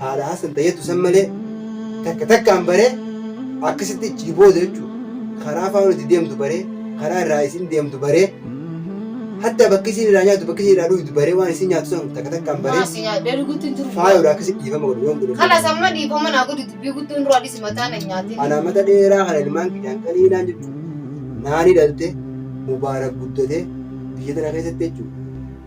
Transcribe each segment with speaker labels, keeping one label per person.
Speaker 1: Haala Hasan Tayyatu san malee takka takkaan baree akkasitti ichi booda jechuudha. Karaa faana itti deemtu baree karaa irraa isin deemtu baree hatta bakki isin irraa nyaatu bakki isin irraa dhugdu baree waan isin nyaatu san takka takkaan baree Maasi nyaadhee dhugutti hin jiru. faayodha akkasitti dhiifama godhu yoon godhu. Kanas amma dhiifama naa
Speaker 2: godhi dubbii guddoon duraa dhisi mataa na nyaatin. Ana mata dheeraa kana
Speaker 1: ilmaan kiyyaan qaliinaan jechuudha. Naani dhalte mubaarak guddate biyya tana keessatti jechuudha.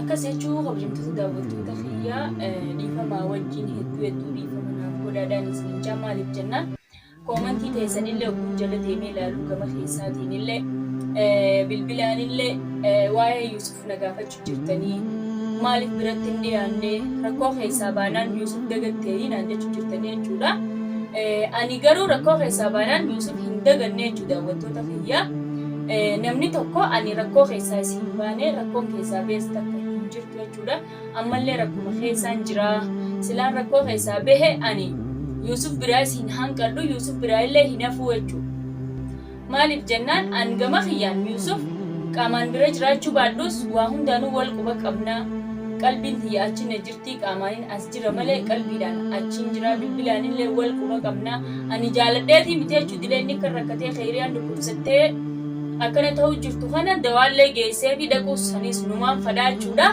Speaker 3: Akkas jechuu kabajamtoota daawwattoota kiyyaa dhiifamaa wajjin hedduu hedduu dhiifama naaf godhaadhaan isiniin jaa maaliif jennaan koomantii teessanillee ogguun jala deemee ilaaluu gama keessaatiinillee bilbilaanillee waa'ee Yuusuf na gaafachuu jirtanii maaliif biratti hin dhiyaanne rakkoo keessaa baanaan Yuusuf dagatteerii naan jechuu jirtanii jechuudha. Ani garuu rakkoo keessaa baanaan Yuusuf hin daganne jechuu daawwattoota kiyyaa. Namni tokko ani rakkoo keessaa si hin baane, rakkoon keessaa bees takka hin jirtu jechuudha. Ammallee rakkuma keessaan jira. Silaan rakkoo keessaa behe ani Yuusuf biraas hin hanqadhu, Yuusuf biraa illee hin hafuu jechuudha. Maaliif jennaan an gama kiyyaan Yuusuf qaamaan bira jiraachuu baadhus waa hundaanuu wal quba qabna. Qalbiin tiyya achinna jirti. Tii qaamaanin as jira malee qalbiidhaan achiin jira bilbilaanillee wal quba qabna ani jaaladheetii miti jechuu dilee inni akka rakkatee keeyriyaan dhukkubsattee akkana ta'uu jirtu kana dawaallee geessee fi dhaquu sanis numaan fadhaa jechuudha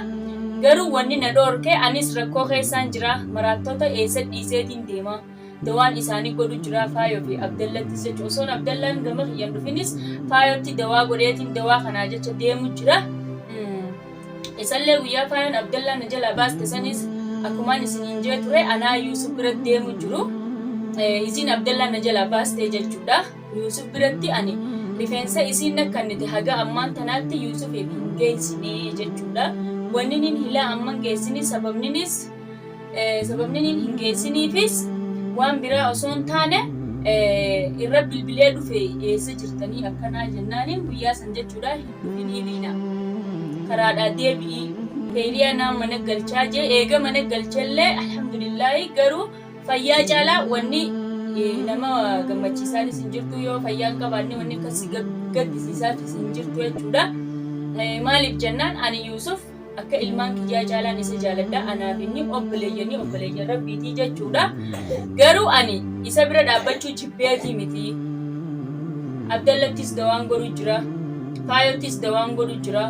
Speaker 3: garuu wanni na dhoorke anis rakkoo keessaan jira maraattoota eessa dhiiseetiin deemaa Dawaan isaanii godhu jiraa Faayoo fi Abdallattis jecha osoon Abdallaan gama kiyyan dhufinis Faayootti dawaa godheetiin dawaa kanaa jecha deemu jira. Isallee guyyaa Faayoon Abdallaan na jalaa baaste sanis akkumaan isiniin jee ture anaa Yuusuf biratti deemu jiru. Isiin Abdallaan na jalaa baaste jechuudha. Yuusuf biratti ani rifeensa isiin nakkannite haga ammaan tanaatti Yuusufiif hin geessinee jechuudha. Wanniniin hilaa amman geessini sababninis Sababni inni hin geessiniifis waan biraa osoo hin taane irra bilbilee dhufe eessa jirtanii akkanaa jennaaniin guyyaa san jechuudha hin dhufinii liina karaadhaa deebi'ii keeliyaa naan mana galchaa jee eega mana galchellee alhamdulillaahi garuu fayyaa caalaa wanni nama gammachiisaanis hin jirtu yoo fayyaa hin qabaanne wanni akkasii gaddisiisaatis hin jirtu jechuudha. Maaliif jennaan ani Yuusuf Akka ilmaan kiyyaa caalaan isa jaaladha. Anaaf inni obboleeyyanii obboleeyyan rabbiitii jechuudha. Garuu ani isa bira dhaabbachuu jibbeetii miti. Abdallattis dawaan godhu jira. Faayottis dawaan godhu jira.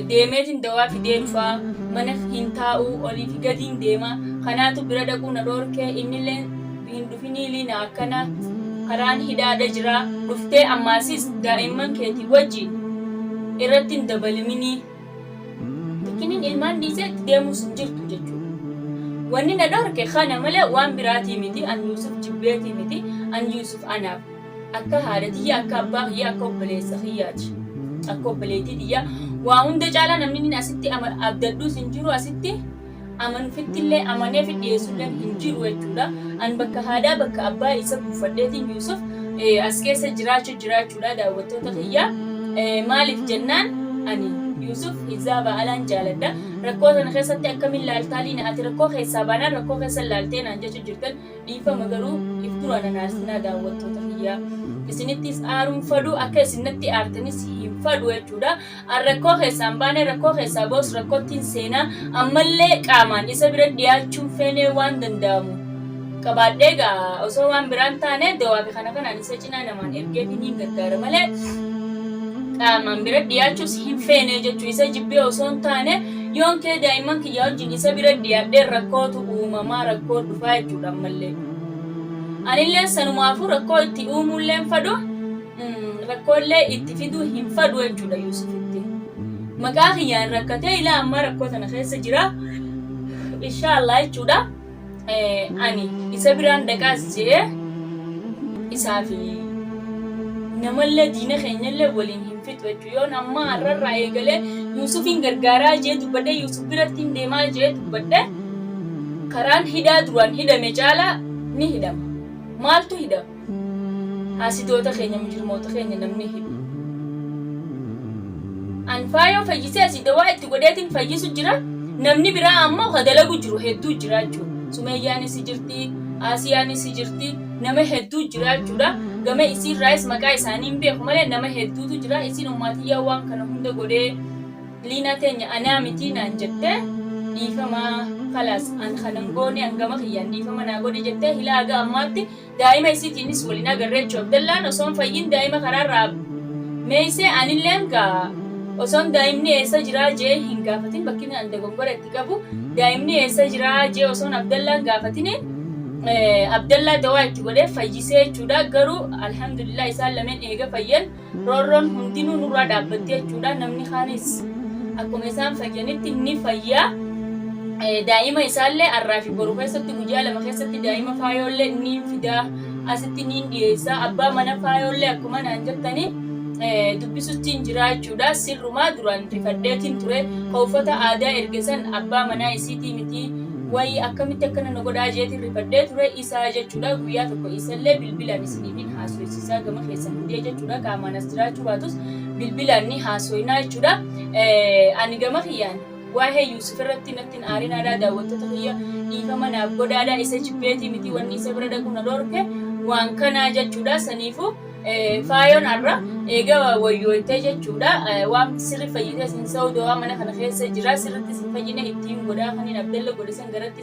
Speaker 3: Deemeetiin dawaa fidee dhufaa. Mana hin taa'uu olii fi gadiin deema. Kanaatu bira dhaquu na dhoorkee innillee Finiiliin akkana karaan hidhaadha jira dhuftee ammaasis daa'imman keetii wajji irratti hin dabaliminii. Miskinin ilmaan dhiisee itti deemuus hin jirtu jechuudha. Wanni na dhorke kana malee waan biraatii miti an Yuusuf jibbeetii miti an Yuusuf anaaf akka haadha tiyya akka abbaa kiyya akka obboleessa kiyyaati. Akka obboleettii tiyya waa hunda caalaa namni asitti abdadhuus hin jiru asitti amanufittillee amaneefi dhiyeessulleen hin jiru jechuudha. An bakka haadhaa bakka abbaa isa buufadheetiin Yuusuf as keessa jiraachu jiraachuudha daawwattoota kiyya. Maaliif jennaan ani Yuusuf Hizaaba Alaan jaaladha. Rakkoo tana keessatti akkamin laaltaa liina ati rakkoo keessaa baanaan rakkoo keessa laaltee naan jechu jirtan dhiifama garuu if duraa nan aarsinaa daawwattoota kiyya. Isinittis aaruun fadhu akka isin natti aartanis hin fadhu jechuudha. An rakkoo keessaa hin baane, rakkoo keessaa bahus rakkottin seena, ammallee qaamaan isa bira dhiyaachuun feenee waan danda'amu qabaadhee egaa osoo waan biraa hin taane dawaa fi kana kanaan isa cinaa namaan ergeetiin hin gargaara malee qaamaan bira dhiyaachuus hin feenee jechuu isa jibbee osoo hin taane yoon kee daa'imman kiyyaa wajjin isa bira dhiyaadhee rakkootu uumamaa rakkoo dhufaa jechuudha ammallee. Anillee sanumaafuu rakkoo itti uumuulleen fadhu rakkoollee itti fiduu hin fadhu jechuudha Yuusufitti. Maqaa kiyyaan rakkatee ilaa ammaa rakkoo tana keessa jira. Inshaallah jechuudha. Ani isa biraan dhaqaas je'ee isaa fi namallee diina keenyallee waliin hin fixu jechuudha. Yoon ammaa har'arraa eegalee Yuusufiin gargaaraa jee dubbadhee Yuusuf biratti hin deemaa jee dubbadhee karaan hidhaa duraan hidhame caalaa ni hidhama. Maaltu hidhama? Haasidoota keenya mujrimoota keenya namni hidhu. An faayoo fayyisee asii dawaa itti godheetiin fayyisu jira namni biraa ammoo ka dalagu jiru hedduu jira jechuudha. Sumeeyyaanis si jirti, Aasiyaanis si jirti nama hedduu jira jechuudha. Gama isiirraayis maqaa isaanii hin beeku malee nama hedduutu jira isiin ummaatiyyaa waan kana hunda godhee liinaa teenya anaa mitii naan jette dhiifama kalaas an kanan goone an gama kiyyaan dhiifama naa godhi jettee hilaa haga ammaatti Daa'ima isiitiinis wal hin agarre jechuun Abdallaan osoo hin fayyin daa'ima karaarraa meeyse anilleen gaa osoon daa'imni eessa jiraa je'ee hin gaafatin bakki an dogongora itti qabu daa'imni eessa jiraa je'ee osoon Abdallaan gaafatini Abdallaa dawaa itti godhee fayyisee jechuudha garuu alhamdulillah isaan lameen eega fayyan Roorroon hundinuu nurraa dhaabbatti jechuudha. Namni kaanis akkuma isaan fayyanitti ni fayya. Eh, Daa'ima isaallee har'aa fi boru keessatti guyyaa lama keessatti daa'ima faayoollee ni fida. Asitti ni dhiyeessa. Abbaa mana faayoollee akkuma naan jettanii eh, dubbisutti hin jira jechuudha. Sirrumaa duraan rifadheetiin ture. Ka uffata aadaa erge san abbaa manaa isiitii miti. Wayii akkamitti akkana na godhaa jeetiin rifadhee ture. isaa jechuudha guyyaa tokko isallee bilbilaan isiniif hin haasoysisaa gama keessan fidee jechuudha qaamaan as jiraachuu baatus bilbilaan ni haasoynaa jechuudha ani gama kiyyaan waa'ee Yuusuf irratti natti hin aarinaadhaa daawwattoota kiyya dhiifama naaf godhaadhaa isa jibbeetii miti wanni isa bira dhaquu na dhorke waan kanaa jechuudha saniifuu faayoon har'a eega wayyooytee jechuudha waan sirri fayyitee sin sa'u dawaa mana kana keessa jira sirritti sin fayyine ittiin godhaa kanin abdalla godhe san garatti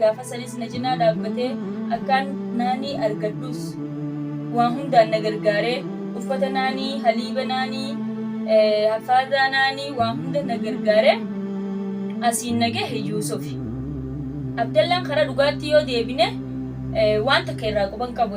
Speaker 3: Gaafa sanis na cinaa dhaabbatee akkaan naanii argadhus waa hundaan na gargaaree uffata naanii, haliiba naanii, haffaadaa naanii waa hunda na gargaaree asiin na gahe Yuusufi. Abdallaan karaa dhugaatti yoo deebine waan takka irraa quba hin qabu.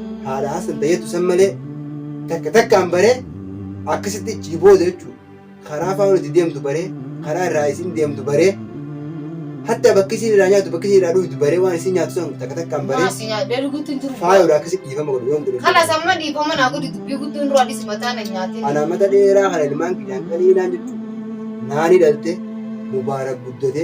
Speaker 1: haala hasan tayetu san malee takka takkaan baree akkasitti ichi booda jechuudha. Karaa faana itti deemtu baree karaa irraa isin deemtu baree hatta bakki isin irraa nyaatu bakki isin irraa dhugdu baree waan isin nyaatu san takka takkaan baree Maasi nyaadhee dhuguutti hin jiru.
Speaker 2: faayodha akkasitti dhiifama godhu
Speaker 1: yoon godhe. Kalas amma dhiifama naa
Speaker 2: godhi dubbii guddoon duraa dhisi mataa na nyaatee. Anaa mata dheeraa kana
Speaker 1: ilmaan kiyyaan qaliinaan jechuudha. Naani dhalte mubaarak guddate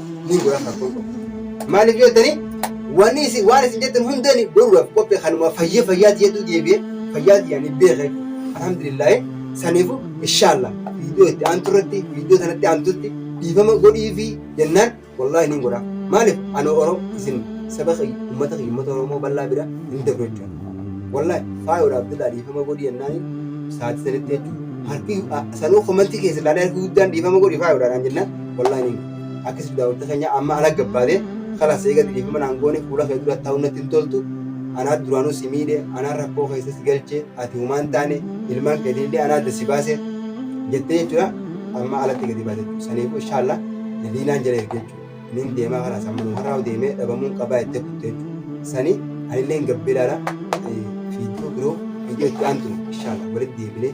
Speaker 1: ni godhan kan kun maaliif jettanii wanni isin waan isin jettan hundeen godhuudhaaf qophee kanuma fayya fayyaati jettuu deebi'e fayyaati yaani beeka alhamdulillah saniifu inshaalla viidiyoo itti aantu irratti viidiyoo sanatti aantutti dhiifama godhii fi jennaan wallaahi ni godha maaliif ana oro isin saba kiyya ummata kiyya ummata oromoo bal'aa bira hin dabru jechuudha wallaahi faayodha abdullaa dhiifama godhii jennaan sa'aatii sanitti jechuudha harki sanuu komantii keessa ilaalee harki guddaan dhiifama godhii faayodha naan jennaan wallaahi ni Akka isin daawwattee keenyaa amma ala gabbaate kalas eega dhiifama naan goone fuula kee dura taa'uun natti hin toltu anaa duraanuu si miidhe anaa rakkoo keessa si galche ati humaan taane ilmaan keetiin illee anaa adda si baase jettee jechuudha amma alatti gadi baate saniif inshaalla liinaan jala erge jechuudha nin deemaa kalas amma nu har'aa deemee dhabamuun qabaa jettee kutte jechuudha sanii anillee hin gabbee ilaala fiidiyoo biroo fiidiyoo itti aantu inshaalla walitti deebinee